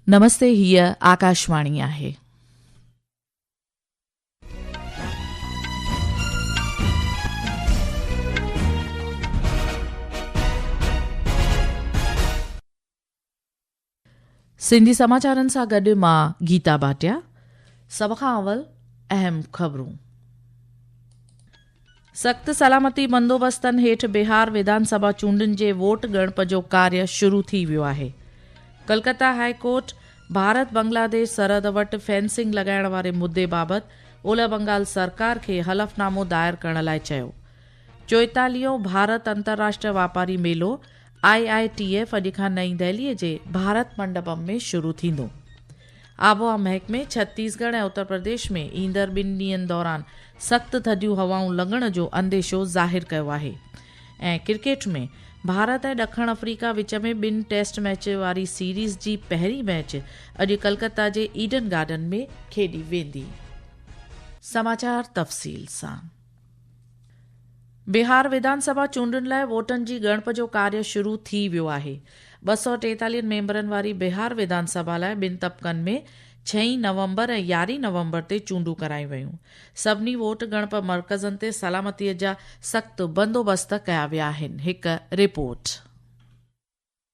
نمستي هيء آڪاشواڻي آهي. سنڌي سماچارن سان گڏ مان گيتا ڀاٽيا سڀ کان اول اهم خبرون سخت سلامتي بندوبستن هيٺ بهار وڌان سڀا چونڊن جي ووٽ ڳڻپ جو ڪاري شروع ٿي ويو آهي. ڪلڪتا هاء ڪورٽ ڀارت بنگلاديش سرحد وٽ فينسنگ لڳائڻ واري مدي بابت اولهه بنگال سرڪار کي حلف نامو دائر ڪرڻ لاء چيو. چوئيتاليهون ڀارت انترراشٽري واپاري ميلو، آء آء ٽي ايف، اڄ کان نئين دهلي جي ڀارت منڊپم ۾ شروع ٿيندو. آبهوا محڪمي ڇتيس ڳڙهه ۽ اتر پرديش ۾ ايندڙ ٻن ڏينهن دوران سخت ٿڌيون هوائون لڳڻ جو انديشو ظاهر ڪيو آهي ۽ ڪرڪيٽ ۾ ڀارت ۽ ڏکڻ آفريڪا وچ ۾ ٻن ٽيسٽ ميچ واري سيريز جي پهرين ميچ اڄ ڪلڪتا جي ايڊن گارڊن ۾ کيڏي ويندي. سماچار تفصيل سان. بهار وڌان سڀا چونڊن لاء ووٽن جي ڳڻپ جو ڪاريه شروع ٿي ويو آهي، ٻه سؤ ٽيتاليهه ميمبرن واري بهار وڌان سڀا لاء ٻن طبقن ۾ ڇهين نومبر ۽ يارهين نومبر تي چونڊون ڪرايون ويون، سڀني ووٽ ڳڻپ مرڪزن تي سلامتي جا سخت بندوبست ڪيا ويا آهن، هڪ رپورٽ.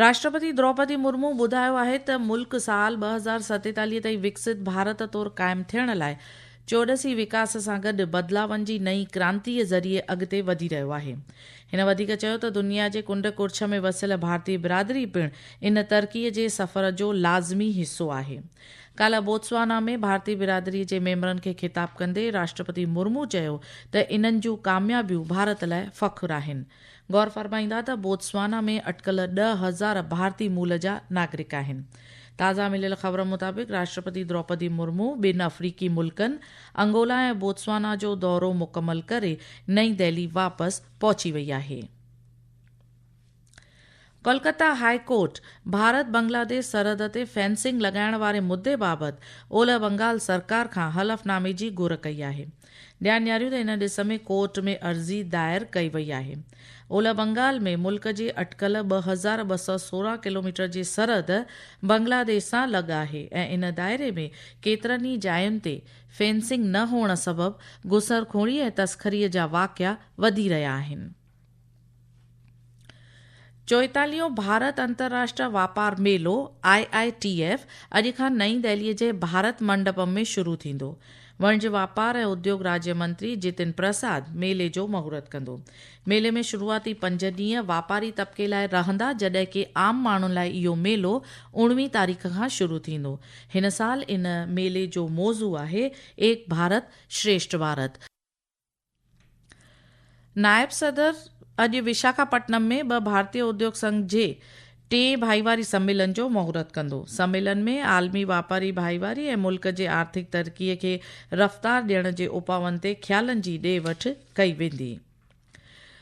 راشٽرپتي دروپدي مرمو ٻڌايو آهي ته ملڪ سال ٻه هزار ستيتاليهه تائين وڪسيت ڀارت طور قائم ٿيڻ لاء چوڏسي وڪاس سان گڏ بدلاون جي نئين ڪرانتيء ذريعي اڳتي وڌي رهيو آهي. هن وڌيڪ چيو ته دنيا جي ڪنڊ ڪڙڇ ۾ وسيل ڀارتي برادري پڻ ان ترقيء جي سفر جو لازمي حصو آهي. ڪالهه بوتسوانا ۾ ڀارتي برادري جي ميمبرن کي خطاب ڪندي راشٽرپتي مرمو چيو ته انهن جون ڪاميابيون ڀارت لاء فخر آهن. غور فرمائيندا ته بوتسوانا ۾ اٽڪل ڏهه هزار ڀارتي مول جا ناگرڪ آهن. تازا مليل خبرن مطابق راشٽرپتي دروپدي مرمو ٻن افريقي ملڪن انگولا ۽ بوتسوانا جو دورو مڪمل ڪري نئين دهلي واپس پهچي وئي آهي. ڪولڪتا هاء ڪورٽ ڀارت بنگلاديش سرحد تي فينسنگ لڳائڻ واري مدي بابت اولهه بنگال سرڪار کان حلفنامي جي گهر ڪئي آهي. ڏيا نياريون ته ان ڏس ۾ ڪورٽ ۾ عرضي دائر ڪئي وئي آهي. اولهه بنگال ۾ ملڪ جي اٽڪل ٻه هزار ٻه سؤ سورهن ڪلوميٽر جي سرحد بنگلاديش سان لڳ آهي ۽ ان دائري ۾ ڪيترن ئي جاين تي فينسنگ نه هئڻ سبب گسرخوري ۽ تسخري جا واقعا وڌي رهيا آهن. چوئيتاليهون ڀارت انترراشٽرا واپار ميلو، آء آء ٽي ايف، اڄ کان نئين دهليء جي ڀارت منڊپم ۾ شروع ٿيندو. وڻج واپار ۽ اديوگ راجيا منتري جتن پرساد ميلي جو مهورت ڪندو. ميلي ۾ شروعاتي پنج ڏينهن واپاري طبقي لاء رهندا جڏهن ڪي عام ماڻهن لاء اهو ميلو اوڻوهين تاريخ کان شروع ٿيندو. هن سال ان ميلي جو موضوع آهي ايڪ ڀارت شريشٺ ڀارت. نائب صدر اڄ وشاکاپٽنم ۾ ٻه ڀارتي اديوگ سنگهه جي ٽئين ڀائيواري سميلن جو مهورت ڪندو. سميلن ۾ عالمي واپاري ڀائيواري ۽ ملڪ جي آرٿڪ ترقي کي رفتار ڏيڻ جي اپاون تي خيالن جي ڏي وٺ ڪئي ويندي.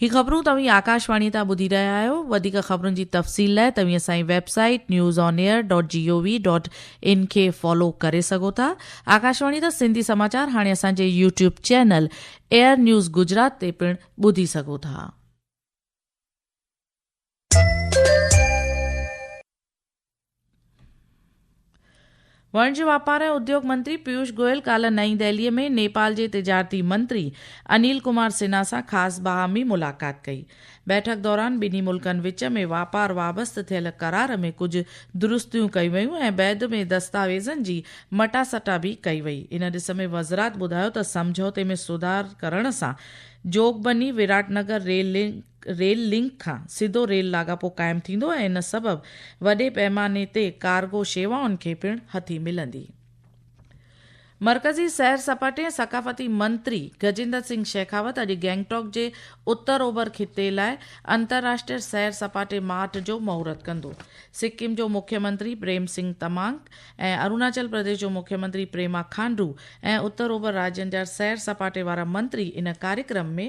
هي خبرون توهين آڪاشواڻي تان ٻڌي رهيا آهيو وڌيڪ خبرن جي تفصيل لاء توهين اسان جي website news on air dot G O V dot in کي فالو ڪري سگهو ٿا آڪاشواڻي تان سنڌي سماچار هاڻي اسان جي YouTube channel air news Gujarat تي پڻ ٻڌي سگهو ٿا واڻجي واپار ۽ اديوگ منتري پيوش گوئل ڪالهه نئين دهلي ۾ نيپال جي تجارتي منتري انيل ڪمار سنها سان خاص باهمي ملاقات ڪئي. بيٺڪ دوران ٻنهي ملڪن وچ ۾ واپار وابست ٿيل قرار ۾ ڪجهه درستيون ڪيون ويون ۽ بعد ۾ دستاويزن جي مٽاسٽا به ڪئي وئي. ان ڏس ۾ وزرات ٻڌايو ته سمجهوتي ۾ سڌار ڪرڻ سان Jogbani Virat Nagar rail link rail link کان سڌو ريل لاڳاپو قائم ٿيندو ۽ ان سبب وڏي پئماني تي ڪارگو شيوائن کي پڻ هٿي ملندي. مرڪزي سير سپاٽي ۽ ثقافتي منتري گجيندر سنگهه شيخاوت اڄ گئنگٽاڪ جي اتر اوڀر خطي لاء انترراشٽري سير سپاٽي مارٽ جو مهورت ڪندو. سڪم جو مکي منتري پريم سنگهه تمانگ ۽ اروناچل پرديش جو مکي منتري پريما کانڊو ۽ اتر اوڀر راڄن جا سير سپاٽي وارا منتري ان ڪاريڪرم ۾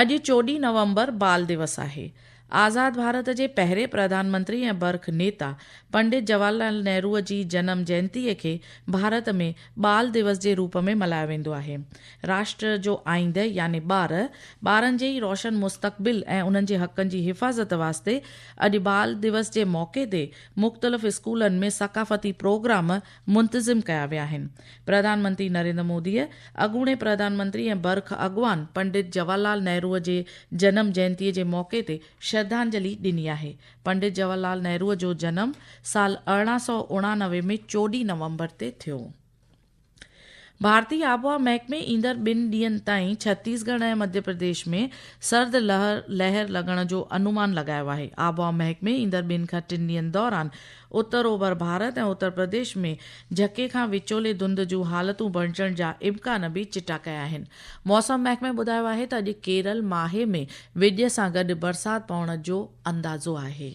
اڄ چوڏهين نومبر بال ديوس آهي. آزاد ڀارت جي پهرين پرڌان منتري ۽ برک نيتا پنڊت جواهر لال نهرو جي جنم جينتيء کي ڀارت ۾ ٻال ديوس جي روپ ۾ ملهايو ويندو آهي. راشٽر جو آئينده يعني ٻار، ٻارن جي ئي روشن مستقبل ۽ انهن جي حقن جي حفاظت واسطي اڄ بال ديوس جي موقعي تي مختلف اسڪولن ۾ ثقافتي پروگرام منتظم ڪيا ويا آهن. پرڌان منتري نريندر موديء اڳوڻي پرڌان منتري ۽ برک اڳواڻ پنڊت جواهر لال نهروء جي جنم جينتيء جي موقعي تي شرڌانجلي ڏني آهي. پنڊت جواهر لال نهروء جو جنم سال ارڙهن سؤ اڻانوي ۾ چوڏهين نومبر تي ٿيو. ڀارتي آبهوا محڪمي ايندڙ ٻن ڏينهن تائين ڇتيس ڳڙهه ۽ مڌيه پرديش ۾ سرد لهر لڳڻ جو انومان لڳايو آهي. آبهوا محڪمي ايندڙ ٻن کان ٽن ڏينهن دوران اتر اوڀر ڀارت ۽ اتر پرديش ۾ جهڪي کان وچولي ڌنڌ جون حالتون بڻجڻ جا امڪان به چٽا ڪيا آهن. موسم محڪمي ٻڌايو آهي ته اڄ ڪيرل ماهي ۾ ويڄ سان گڏ برسات پوڻ جو اندازو آهي.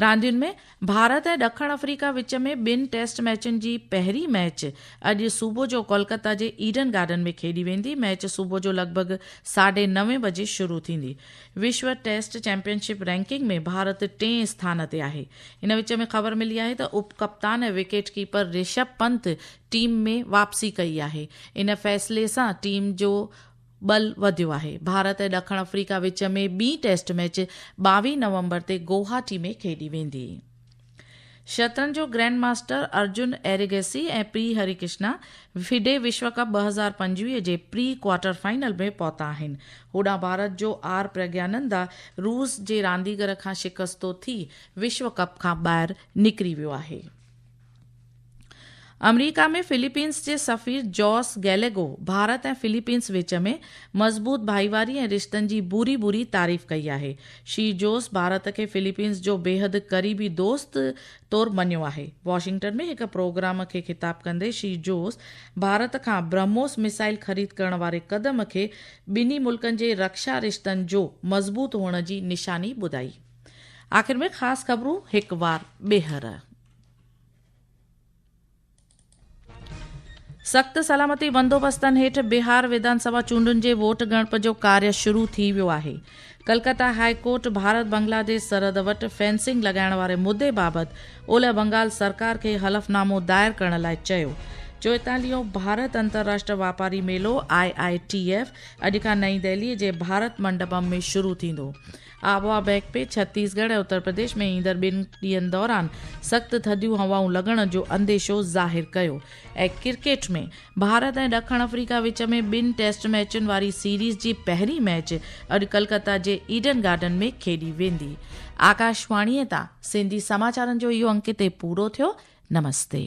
راندين ۾ ڀارت ۽ ڏکڻ آفريڪا وچ ۾ ٻن ٽيسٽ ميچن جي پهرين ميچ اڄ صبح جو ڪولڪتا جي ايڊن گارڊن ۾ کيڏي ويندي ميچ صبح جو لڳ ڀڳ ساڍي نوين بجي شروع ٿيندي وشو test championship ranking ۾ Bharat ٽئين اسٿان تي آهي ان وچ ۾ خبر ملي آهي ته اپ ڪپتان ۽ wicket keeper Rishabh Pant team ۾ واپسي ڪئي آهي ان فيصلي سان ٽيم جو ٻل وڌيو آهي. ڀارت ۽ ڏکڻ آفريڪا وچ ۾ ٻين ٽيسٽ ميچ ٻاويهه نومبر تي گوهاٽي ۾ کيڏي ويندي. شطرنج جو گرينڊ ماسٽر ارجن ايريگيسي ۽ پري هري ڪشنا فيڊي وشو ڪپ ٻه هزار پنجويهه جي پري ڪوارٽر فائنل ۾ پهتا آهن. هوڏانهن ڀارت جو آر پرگيانندا روس جي رانديگر کان شڪستو ٿي وشو ڪپ کان ٻاهر نڪري ويو آهي. آمريڪا ۾ فلپينس جي سفير جوس گيليگو ڀارت ۽ فلپينس وچ ۾ مضبوط ڀائيواري ۽ رشتن جي ڀوري ڀوري تعريف ڪئي آهي. شي جوس ڀارت کي فلپينس جو بيحد قريبي دوست طور مڃيو آهي. واشنگٽن ۾ هڪ پروگرام کي خطاب ڪندي شي جوس ڀارت کان برهموس ميسائل خريد ڪرڻ واري قدم کي ٻنهي ملڪن جي رڪشا رشتن جو مضبوط هئڻ جي نشاني ٻڌائي. آخر ۾ خاص خبرون هڪ وار ٻيهر. سخت سلامتي بندوبستن هيٺ بهار وڌان سڀا چونڊن جي ووٽ ڳڻپ جو ڪاري شروع ٿي ويو آهي ڪلڪتا هاء ڪورٽ ڀارت بنگلاديش سرحد وٽ فينسنگ لڳائڻ واري مدي بابت اولهه بنگال سرڪار کي حلفنامو دائر ڪرڻ لاء چيو چوئيتاليهون ڀارت انترراشٽر واپاري ميلو آء آء ٽي ايف اڄ کان نئين دهلي جي ڀارت منڊپم ۾ شروع ٿيندو آبهوا بيڪ پي ڇتيس ڳڙهه ۽ اتر پرديش ۾ ايندڙ ٻن ڏينهن دوران سخت ٿڌيون هوائون لڳڻ جو انديشو ظاهر ڪيو. ۽ ڪرڪيٽ ۾ ڀارت ۽ ڏکڻ آفريڪا وچ ۾ ٻن ٽيسٽ ميچن واري سيريز جي پهرين ميچ اڄ ڪلڪتا جي ايڊن گارڊن ۾ کيڏي ويندي. آڪاشواڻيء تان سنڌي سماچارن جو اهو انڪ هتي پورو ٿيو. نمستي.